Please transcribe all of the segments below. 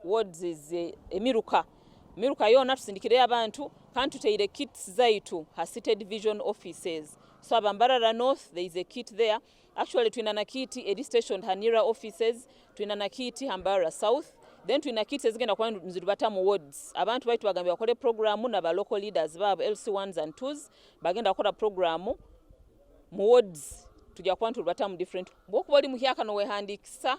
Wards eze emiruka miruka yoona tusindikireyo abantu kandi tuteire kits zaitu ha city division offices so aba mbarara north there is a kit there actually twine na kit eri stationed ha nearer offices twine na kit ha mbarara south then twine na kits ezigenda kuba nizirubata mu wards abantu baitu bagambire bakore program na ba local leaders baabo LC ones and twos bagenda kukora program mu wards tugya kuba niturubatamu different. Bwokuba ori muhyaka nowehandikisa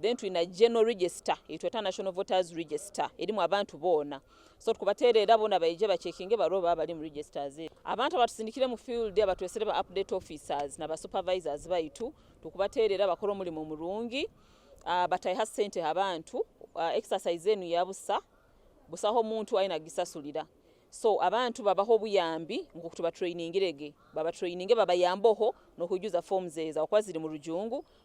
Then twine general register ei tweta national voters register erimu abantu boona so tukubatereera boona baije ba checkinge barobe baaba bari omu registers ezo. Abantu abatusindikire omu field abatwesire ba update officers na ba supervisors baitu tukubatereera bakore omurimo murungi bataiha sente ha bantu exercise enu ya busa busa ahu omuntu aine agisasurira so abantu babahe obuyambi nkoku tubatrainingire ge babatrainingire babayambeho nokwijuza forms ezo ahakuba ziri murujungu